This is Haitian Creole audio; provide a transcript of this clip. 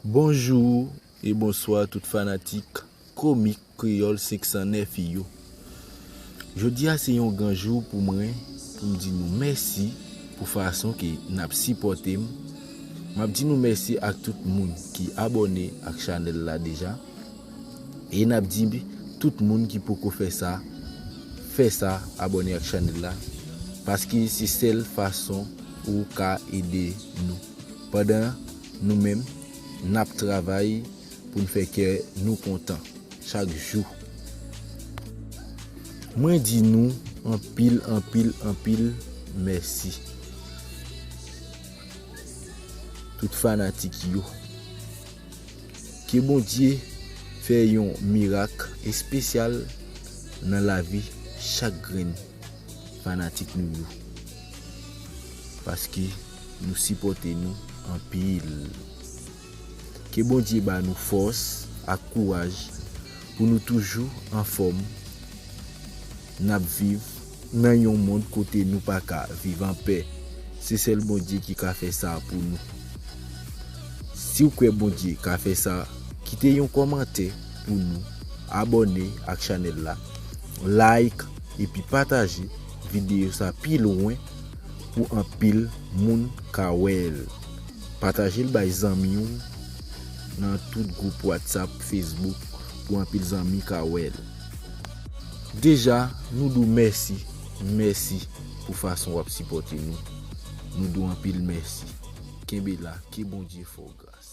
Bonjou e bonswa tout fanatik komik kreyòl 509 yo Jodi a se yon gran jou pou mwen pou m di nou mèsi pou fason ke n ap sipòte m M ap di nou mèsi ak tout moun ki abòne ak chanèl la deja e n ap di tout moun ki poko fè sa fè sa abòne ak chanèl la paske se sèl fason ou ka ede nou. pandan nou menm n ap travay pou n fè kè nou kontan chak jou. Mwen di nou anpil anpil anpil mèsi tout fanatik yo. Ke Bondye fè yon mirak espesyal nan lavi chak grenn fanatik nou yo. Paske. Nou sipote nou anpil. Ke Bondye ba nou fòs ak kouraj pou nou toujou anfòm nap viv nan yon mond kote nou paka viv anpè se sèl Bondye ki ka fè sa pou nou siw kwè Bondye ka fè sa kite yon kòmantè pou nou abòne ak chanèl la like epi pataje videyo sa pi lwen. pou anpil moun ka wèl. Patajel bay zanmiw nan tout group watsap facebook pou anpil zanmi ka wèl. Deja nou diw mèsi mèsi pou fason wap sipòte nou nou diw anpil mèsi kenbe la ke bondye fèw gras.